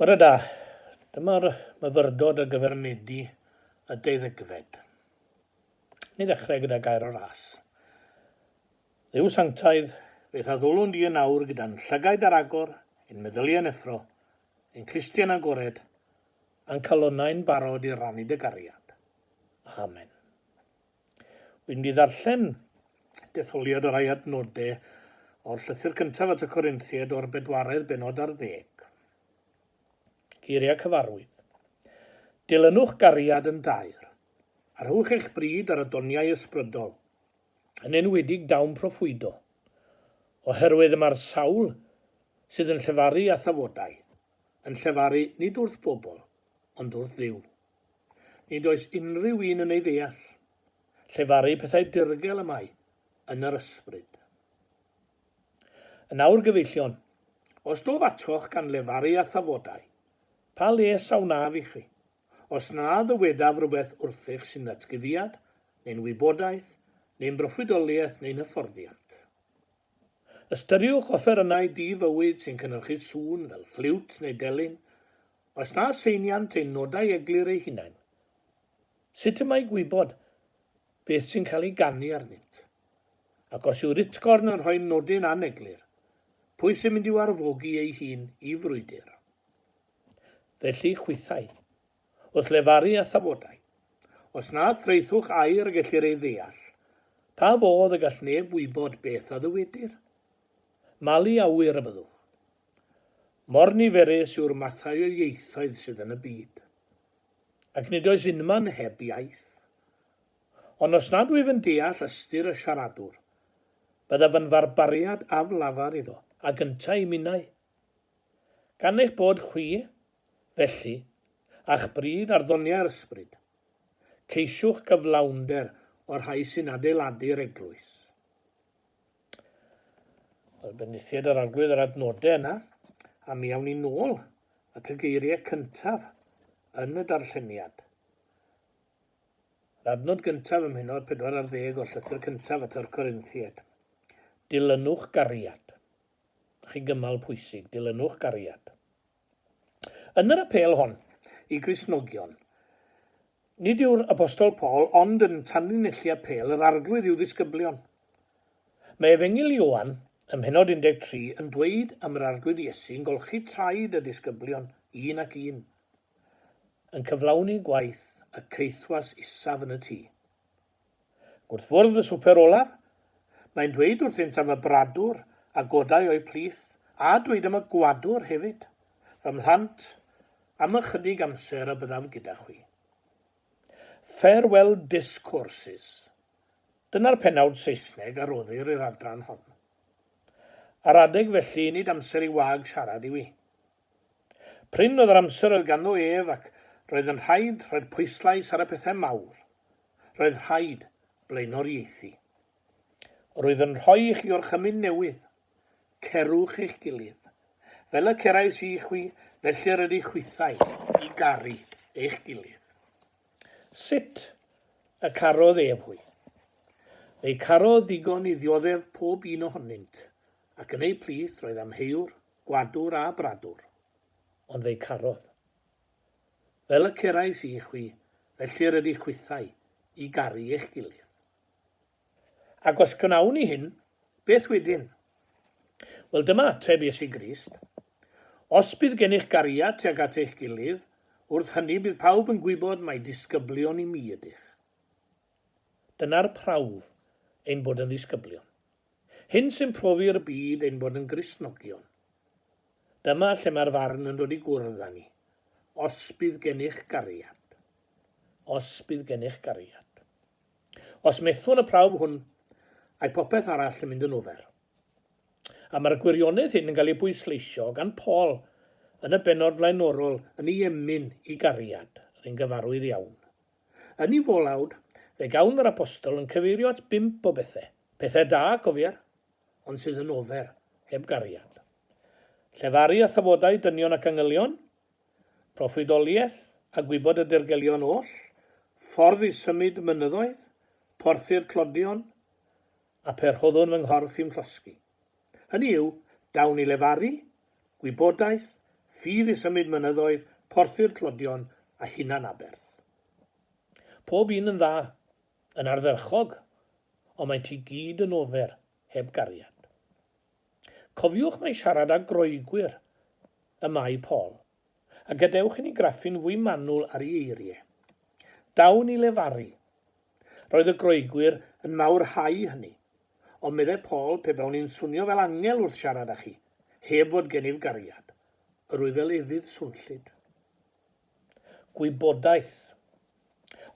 Bore da. Dyma'r myfyrdod ar gyfer Medi y deuddegfed. Ni ddechrau gyda gair o ras. Dduw sanctaidd, beth a ddwlwn di yn awr gyda'n llygaid ar agor, ein meddyliau yn effro, ein clustiau'n agored, a'n calonnau'n barod i rannu dy gariad. Amen. Wi ndi ddarllen detholiad o rai adnode o'r llythyr cyntaf at y Corinthiaid o'r bedwaredd benod ar ddeg. Geiriau cyfarwydd. Dilynwch gariad yn daer, a rhowch eich bryd ar y doniau ysbrydol, yn enwedig dawn proffwydo, oherwydd y mae'r sawl sydd yn llefaru a thafodau, yn llefaru nid wrth bobl, ond wrth Dduw. Nid oes unrhyw un yn ei ddeall. Llefaru pethau dirgel y mae yn yr ysbryd. Yn awr gyfeillion, os dof atoch gan lefaru a thafodau, pa les a wnaf i chi, os na ddywedaf rhywbeth wrthych sy'n ddatguddiad, neu'n wybodaeth, neu'n broffwydoliaeth neu'n hyfforddiant? Ystyriwch offerynnau di-fywyd sy'n cynhyrchu sŵn fel ffliwt neu delyn, Os na seiniant ein nodau eglur eu hunain, sut y mae gwybod beth sy'n cael ei ganu arnynt? Ac os yw Ritgorn yn rhoi nodyn aneglur, pwy sy'n mynd i'w arfogi ei hun i frwydr? Felly, chwithau, wrth lefaru a thafodau, os na thraethwch air y gellir ei ddeall, pa fodd y gall neb wybod beth a ddywedir? Mali a ŵyr y byddwch. Mor niferus yw'r mathau o ieithoedd sydd yn y byd. Ac nid oes unman heb iaith. Ond os nad wyf yn deall ystyr y siaradwr, byddaf yn farbariad aflafar iddo. Ac yntau i minnau. Gan eich bod chwi, felly, a'ch bryd ar ddoniau'r ysbryd, ceisiwch gyflawnder o'r rhai sy'n adeiladu'r eglwys. Wel, benithiad yr arglwydd yr adnodau yna, a mi awn ni nôl at y geiriau cyntaf yn y darlleniad. Yr adnod gyntaf ym mhenod 14 o'r llythyr cyntaf at yr Corinthiaid. Dilynwch gariad. Chi gymal pwysig, dilynwch gariad. Yn yr apêl hon i Gristnogion, nid yw'r Apostol Paul ond yn tanlinellu apêl yr Arglwydd i'w ddisgyblion. Mae Efengyl Ioan, ym mhennod 13, yn dweud am yr Arglwydd Iesu'n golchi traed y disgyblion, un ac un, yn cyflawni gwaith y caethwas isaf yn y tŷ. Wrth fwrdd y swper olaf, mae'n dweud wrthynt am y bradwr a godai o'i plith, a dweud am y gwadwr hefyd, Fy mhlant, am ychydig amser y byddaf gyda chwi. Farewell Discourses. Dyna'r pennawd Saesneg a roddir i'r adran hon. Ar adeg felly, nid amser i wag siarad yw hi. Prin oedd yr amser oedd ganddo ef ac roedd yn rhaid rhoi'r pwyslais ar y pethau mawr. Roedd rhaid blaenoriaethu. Rwyf yn rhoi i chi orchymyn newydd. Cerwch eich gilydd. Fel y cerais i chwi, felly yr ydych chwithau, i garu eich gilydd. Sut y carodd ef hwy? Fe'i carodd ddigon i ddioddef pob un ohonynt, ac yn eu plith roedd amheuwr Gwadur a bradur. Ond fe'i carodd. Fel y cerais i chwi, felly yr ydych chwithau, i garu eich gilydd. Ac os gwnawn ni hyn, beth wedyn? Wel, dyma ateb Iesu Grist, Os bydd gennych gariad tuag at eich gilydd, wrth hynny bydd pawb yn gwybod mai disgyblion i mi ydych. Dyna'r prawf ein bod yn ddisgyblion. Hyn sy'n profi'r byd ein bod yn Gristnogion. Dyma lle mae'r farn yn dod i gwrdd â ni. Os bydd gennych gariad. Os bydd gennych gariad. Os methwn y prawf hwn, ae popeth arall yn mynd yn ofer. A mae'r gwirionedd hyn yn cael ei bwysleisio gan Paul yn y bennod flaenorol yn ei emyn i gariad, yr un gyfarwydd iawn. Yn ei folawd, fe gawn yr Apostol yn cyfeirio at bump o bethe, pethe da, cofier, ond sydd yn ofer, heb gariad. Llefaru a thafodau dynion ac angylion, proffwydoliaeth a gwybod y dirgelion oll, ffordd i symud mynyddoedd, porthi'r tlodion, a phe rhoddwn fy nghorff i'm llosgi. Hynny yw, dawn i lefaru, gwybodaeth, ffydd i symud mynyddoedd, porthi'r tlodion, a hunan aberth. Pob un yn dda, yn ardderchog, ond maent i gyd yn ofer, heb gariad. Cofiwch mai siarad â Groegwyr y mae Paul. A gadewch i ni graffu'n fwy manwl ar ei eirie. Daw yn ei lefaru. Roedd y Groegwyr yn mawrhau hynny. Ond meddai Paul, pe bawn i'n swnio fel angel wrth siarad â chi, heb fod gennyf gariad, yr wyf fel efydd swnllyd. Gwybodaeth.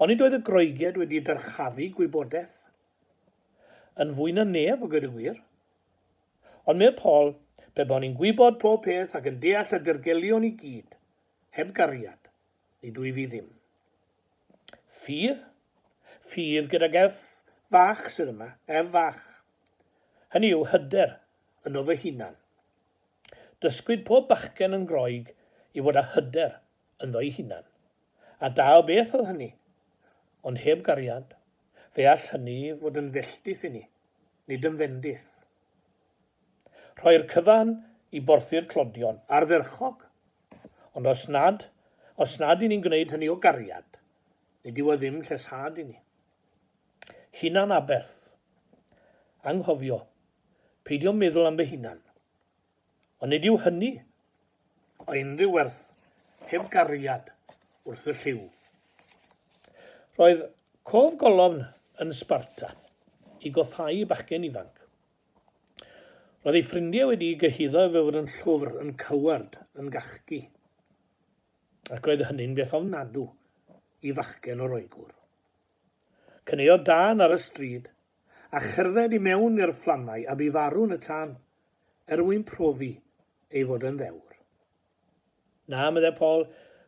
Onid oedd y Groegiaid wedi dyrchafu gwybodaeth? Yn fwy na neb, a gweud y gwir. Ond medd Paul, pe bo ni'n gwybod pob peth ac yn deall y dirgelion i gyd, heb gariad, nid wyf i ddim. Ffydd? Ffydd gydag F fach sydd yma, F fach. Hynny yw hyder yno fy hunan. Dysgwyd pob bachgen yn Groeg i fod â hyder ynddo'i hunan. A da o beth oedd hynny, ond heb gariad. Fe all hynny fod yn felltith i ni, nid yn fendith. Rhoi'r cyfan i borthi'r clodion, ardderchog! Ond os nad, os nad i ni'n gwneud hynny o gariad, nid yw e ddim lleshad i ni. Hunan aberth. Anghofio, peidio meddwl am fy hunan. Ond nid yw hynny o unrhyw werth heb gariad wrth y llyw. Roedd cof golofn yn Sparta i goffáu bachgen ifanc. Roedd ei ffrindiau wedi gyhuddo ef fod yn llwfr, yn coward, yn gachgi. Ac roedd hynny'n beth ofnadw i fachgen o Roegwr. Cyneuodd Dan ar y stryd a cherdded i mewn i'r fflamau a bu farw yn y tân, er mwyn profi ei fod yn ddewr. Na, meddai Paul,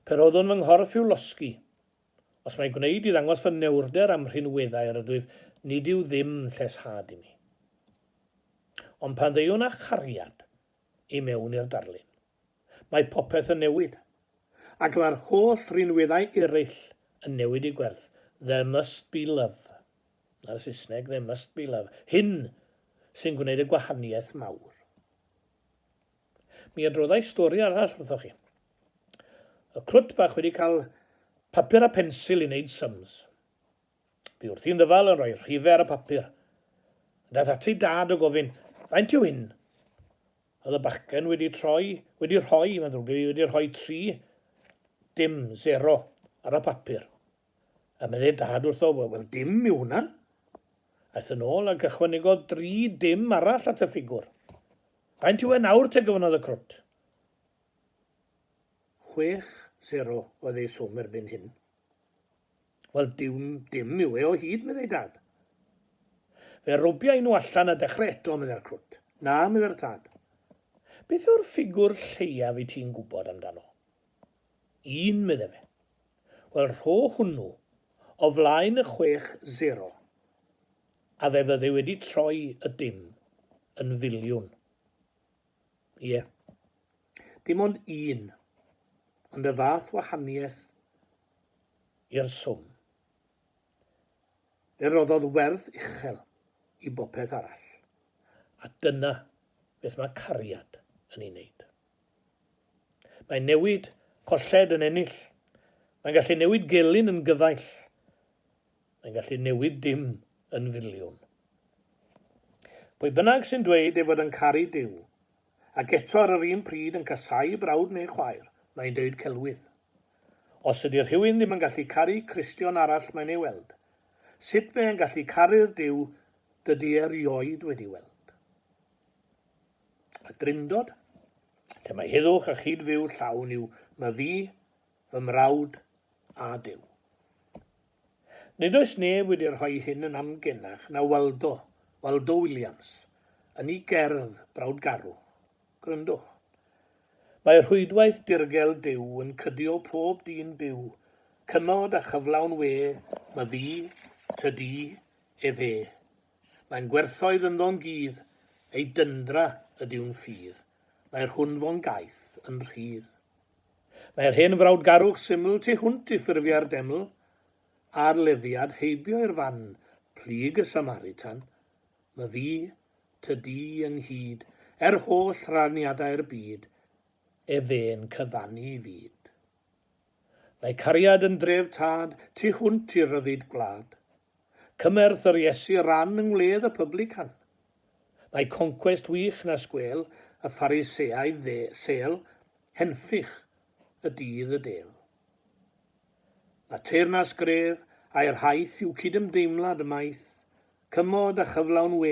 pe roeddwn fy nghorff i'w losgi. Os mai gwneud i ddangos fy newrder a'm rhinweddau yr ydwyf, nid yw ddim lleshad i mi. Ond pan ddeuwn â chariad i mewn i'r darlun. Mae popeth yn newid. Ac mae'r holl rinweddau ereill yn newid i gwerth. There must be love. Na'r Saesneg, there must be love. Hyn sy'n gwneud y gwahaniaeth mawr. Mi adroddai stori arall wrthoch chi. Y crwt bach wedi cael papur a pensil i wneud sums. Bu wrthi'n ddyfal yn rhoi rhifau ar y papur. Daeth ati dad o gofyn, faint yw hyn? Oedd y bachgen wedi troi, wedi rhoi, mae'n ddrwg gen i, wedi rhoi tri, dim, zero, ar y papur. A meddai dad wrtho, wel, wel dim yw hwnna. Aeth yn ôl ac ychwanegodd dri dim arall at y ffigwr. Faint yw e nawr te gyfynodd y crwt? Chwech, zero, oedd ei swm erbyn hyn. Wel, dyw dim yw e o hyd, meddai Dad. Fe robiai nhw allan a dechrau eto, meddai'r crwt. Na, meddai'r tad. Beth yw'r ffigwr lleiaf wyt ti'n gwybod amdano? Un, meddai fe. Wel, rho hwnnw o flaen y chwech sero, a fe fyddai wedi troi y dim yn filiwn. Ie. Yeah. Dim ond un, ond y fath wahaniaeth i'r swm. Fe roddodd werth uchel i bopeth arall. A dyna beth mae cariad yn ei wneud. Mae newid colled yn ennill. Mae'n gallu newid gelyn yn gyfaill. Mae'n gallu newid dim yn filiwn. Pwy bynnag sy'n dweud ei fod yn caru Duw, ac eto ar yr un pryd yn casáu brawd neu chwaer, mae'n deud celwydd. Os ydy rhywun ddim yn gallu caru Cristion arall mae'n ei weld, sut mae e'n gallu caru'r Duw dydy e rioed wedi weld? Y Drindod, lle mae heddwch a chyd-fyw llawn i'w myfi, fy mrawd a Duw. Nid oes neb wedi rhoi hyn yn amgenach na Waldo, Waldo Williams, yn ei gerdd Brawdgarwch. Gwrandwch. Mae rhwydwaith dirgel Duw yn cydio pob dyn byw, cymod a chyflawn we, myddi, tydi, efe. Mae'n gwerthoedd ynddo'n gudd, ei dyndra ydyw'n ffydd, mae'r hwn fo'n gaeth yn rhydd. Mae'r hen frawdgarwch syml tu hwnt i ffurfiau'r deml a'r leddfiad heibio i'r fan plyg y Samaritan, my fi, ty di ynghyd, er holl raniadau'r byd, ef fe'n cyfannu i fyd. Mae cariad yn dref tad, tu hwnt i ryddid gwlad. Cymerth yr Iesu ran yng ngwledd y pyblycan. Mae concwest wych na sgwel, y Phariseaidd sel, Henffych y dydd y del. Mae teyrnas gref aer haeth yw cydymdeimlad y maeth, cymod a chyflawn we,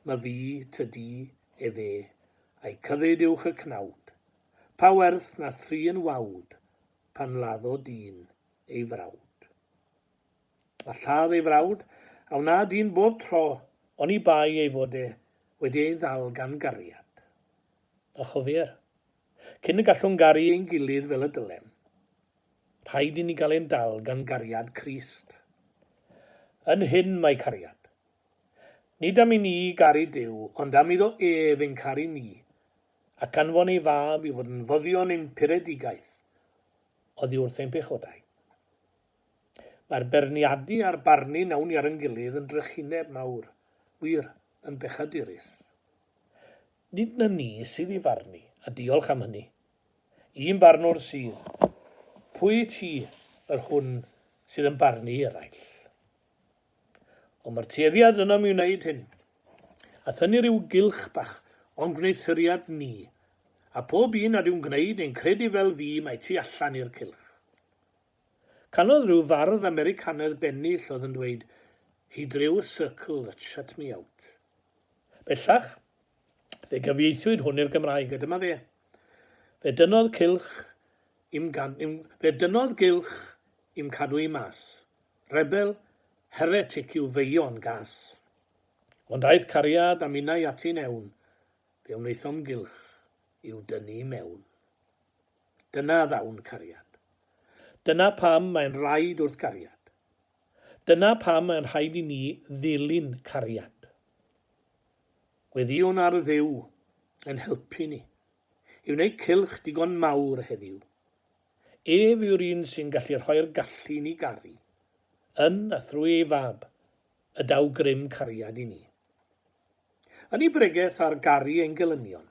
my fi, ty di, efe, a'i cyfyd uwch y cnawd. Pa werth na thri yn wawd, pan laddo dyn ei frawd. Mae lladd ei frawd, a wna dyn bob tro, oni bai ei fod e wedi ei ddal gan gariad. A chofier, cyn y gallwn garu ein gilydd fel y dylem, rhaid i ni gael ein dal gan gariad Crist. Yn hyn mae cariad. Nid am i ni garu Duw, ond am iddo ef ein caru ni, ac anfon ei Fab i fod yn foddion ein puredigaeth oddi wrth ein pechodau. Mae'r berniadu a'r barnu nawn ni ar yn gilydd yn drychineb mawr, wir, yn bechadurus. Nid na ni sydd i farnu, a diolch am hynny. Un barnwr sydd. Pwy wyt ti, yr hwn sydd yn barnu i eraill? Ond mae'r tueddiad ynom i wneud hyn, a thynnu rhyw gylch bach o'n gwneuthuriad ni, a phob un nad yw'n gwneud neu'n credu fel fi mae tu allan i'r cylch. Canodd rhyw fardd Americanedd bennill oedd yn dweud, He drew a circle that shut me out. Bellach, fe gyfieithwyd hwn i'r Gymraeg, a dyma fe. Fe dynnodd cylch i'm, gad, im, fe dynnodd gylch i'm cadw i mas. Rebel, heretic yw feion gas. Ond aeth cariad a minnau ati'n ewn, fe wnaethom gylch i'w dynnu i mewn. Dyna ddawn cariad. Dyna pam mae'n rhaid wrth gariad. Dyna pam mae'n rhaid i ni ddilyn cariad. Gweddïwn ar Dduw ein helpu ni i wneud cylch digon mawr heddiw. Ef yw'r un sy'n gallu rhoi'r gallu i ni garu. Yn a thrwy ei Fab y daw grym cariad i ni. Yn ei bregeth ar garu ein gelynion,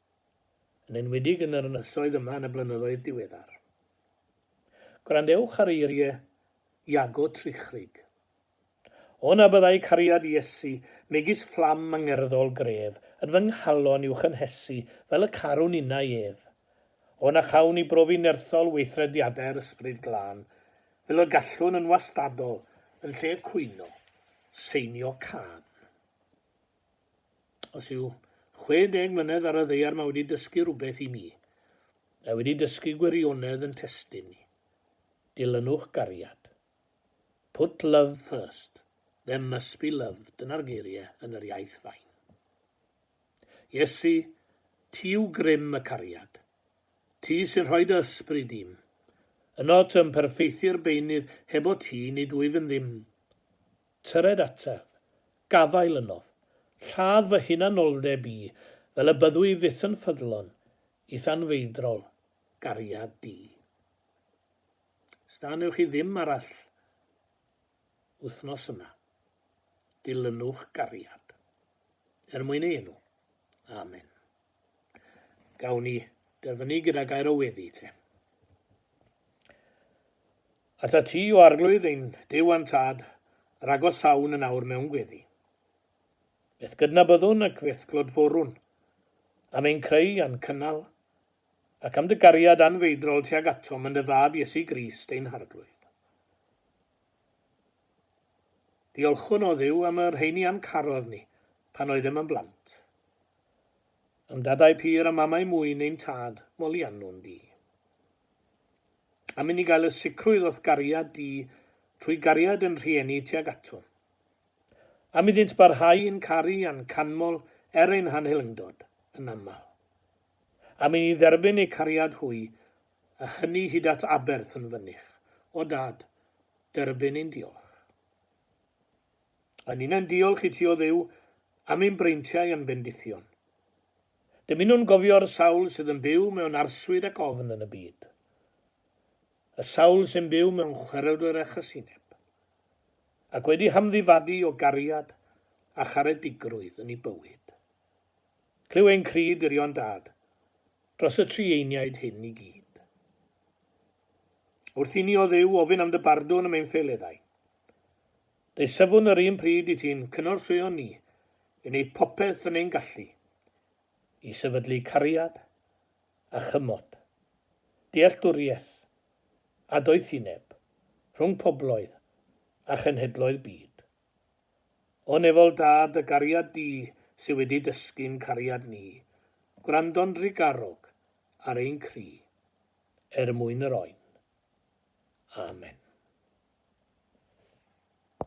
yn enwedig yn yr ynysoedd yma yn y blynyddoedd diweddar. Gwrandewch ar eirie Iago Trichrig. O na byddai cariad Iesu, megis fflam angerddol gref, yn fy nghalon i'w chynhesu fel y carwn innau ef. O na chawn ni brofi nerthol weithrediadau'r Ysbryd Glân, fel y gallwn yn wastadol, yn lle cwyno, seinio cân. Os yw 60 mlynedd ar y ddaear mae wedi dysgu rhywbeth i mi. Mae wedi dysgu gwirionedd yn testun ni. Dilynwch gariad. Put love first. There must be love, dyna'r geiriau yn yr iaith fain. Iesu, ti yw grym y cariad. Ti sy'n rhoi dy ysbryd i'm. Yno tŷ'n perffeithi'r beunydd, heb o ti nid wyf yn ddim. Tyred ataf. Gafael ynof. Lladd fy hunanoldeb i fel y byddw i fyth yn ffyddlon i thanfeidrol gariad di. Sda newch chi ddim arall wythnos yma. Dilynwch gariad. Er mwyn ei enw. Amen. Gawn ni derfynu gyda gair o weddi te. At y ti o arglwydd ein Duw a'n Tad, yr agosawn yn awr mewn gweddi. Beth gydnabyddwn ac beth glodforwn, am ein creu a'n cynnal, ac am dy gariad anfeidrol tuag atom yn dy fab Iesu Grist ein harglwydd. Diolchwn o Dduw am y rheini a'n carodd ni pan oeddem yn blant. A'm dadau pur a mamau mwyn ein tad, moliannwn di. Am inni gael y sicrwydd o'th gariad di trwy gariad yn rhieni tuag aton. Am iddynt barhau i'n caru a'n canmol er ein hanhelyngdod, yn aml. Am inni dderbyn eu cariad hwy, a hynny hyd at aberth yn fynych. O Dad, derbyn ein diolch. A ninnau'n diolch i ti, O Dduw, am ein breintiau a'n bendithion. Dymunwn gofio'r sawl sydd yn byw mewn arswyd ac ofn yn y byd. Y sawl sy'n byw mewn chwerwdr a chasineb. Ac wedi hamddifadu o gariad a charedigrwydd yn ei bywyd. Clyw ein cri dirion Dad. Dros y tri einiaid hyn i gyd. Wrth i ni, O Dduw, ofyn am dy bardwn am ein ffeileddau. Dei safwn yr un pryd i ti'n cynorthwyo ni i wneud popeth yn ein gallu i sefydlu cariad a chymod, dealltwriaeth a doethineb rhwng pobloedd a chenhedloedd byd. O nefol da dy gariad di sy wedi dysgu'n cariad ni gwrando'n drugarog ar ein cri er mwyn yr oen. Amen.